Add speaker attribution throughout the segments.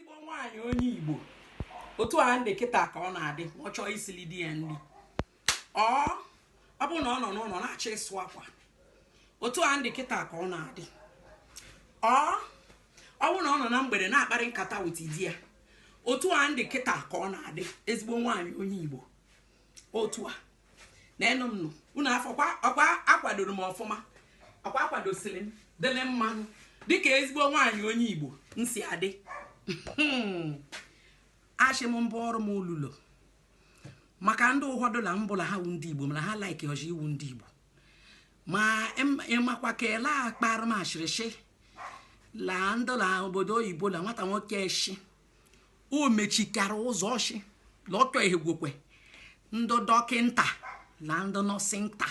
Speaker 1: ezigbo nwaanyị onye igbo otu a m dị kịta ka ọ na-adị ọ chọọ isili di ya nri ọ ọ bụrụ na ọ nọ n'ụlọ na-achọ ịsụ akwa otu a m dị kịta ka ọ na-adị ọ ọ bụrụ na ọ nọ na mgbede na-akparị nkata with di ya otu a m dị kịta ka ọ na-adị ezigbo nwaanyị onye igbo otu a neenụ m nụ unu afụkwa ọkwa akwadoro m ọfụma ọkwa akwadosiri m dịrị mma dịka ezigbo nwaanyị onye igbo m si adị ashị m mbụ ọrụ m olulo maka ndị ụfọdụ la mbụla ha wụ ndị igbo mana ha like ọjị ịwụ ndị igbo ma em- ị makwa ke la akpara m ashịrị shị la ndị la obodo oyibo la nwata nwoke eshi o mechikara ụzọ ọ shị la ọ chọ ehegwokwe ndị dọkịnta la ndị nọsịnta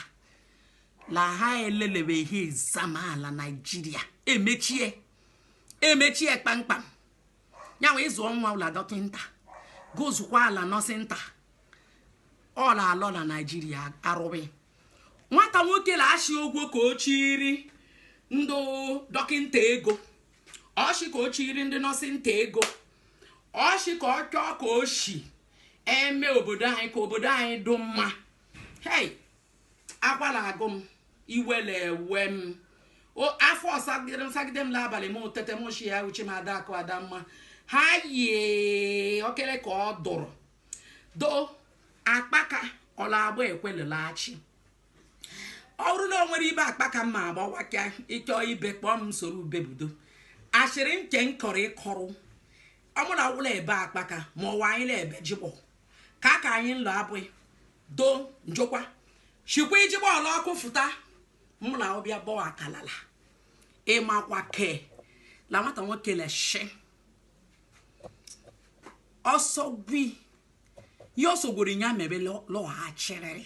Speaker 1: la ha elelebeghị exam ala naijiria emechie emechie kpamkpam yanwa ị zụọ nwa ụla dọkịnta gozukwa ala nọsịnta ọ la-alọ la naijiria arụghị nwata nwoke na-achị ogwo ka o chiri ndị dọkịnta ego ọ shị ka o chiri ndị nọsịnta ego ọ shị ka ọ chọọ ka o shi eme obodo anyị ka obodo anyị dụ mma hei akwa la-agụ m iwe la-ewe m afọ sagide m n'abalị m tete m shị ya uche m ada akụ ada mma ha yie okere ka ọ dụrụ do akpaka ọ la-agba ekwelelachi ọ bụrụ na o nwere ibe akpaka mma agbawa ka ị chọọ ibe kpọọ m soro ube budo asịrị nke m kọrọ ịkọrọ ọ mụ na wụla ebe akpaka ma ọwa anyị na-ebe jikpọ ka ka anyị nlọ abụghị do njọkwa shikwa ijikpọ ọla ọkụ fụta mụ na ọbịa bọọ akalala ị makwa ke la nwata nwoke na-eshi ọsọ gwi ya ọsọ gworo ya mebe lọghachirịrị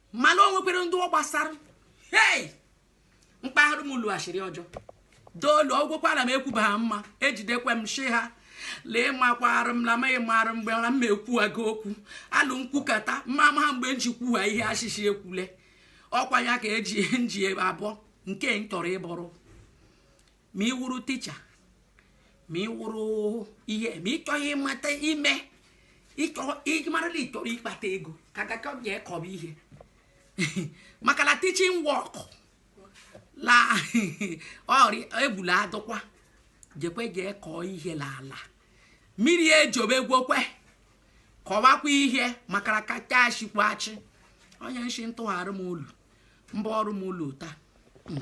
Speaker 1: mana o nwekwere ndị ọ gbasara hei mkpaghara m ụlọ ashịrị ọjọọ doolu ọgwụkwara m ekwuba ha mma ejidekwe m shi ha lee makwara m na amaghị mara mgbe na mma ekwuwago okwu alụ m kwukata mma amaha mgbe m ji kwuha ihe a shị shị ekwule ọkwa ya ka m ji abọ nke m chọrọ ịbọrọ ma ị wụrụ teacher ma ị wụrụ ihe ma ị chọghị ịmata ime ị mara la ị chọrọ ịkpata ego ka gaka bịa kọba ihe maka la teaching work la ọrịa egbula adụkwa jekwe jee kọọ ihe n'ala mmiri ejobe gwokwe kọwakwa ihe maka na kacha achịkwa achị onye nshi ntụgharị m ụlọ mba ọrụ m ụlọ taa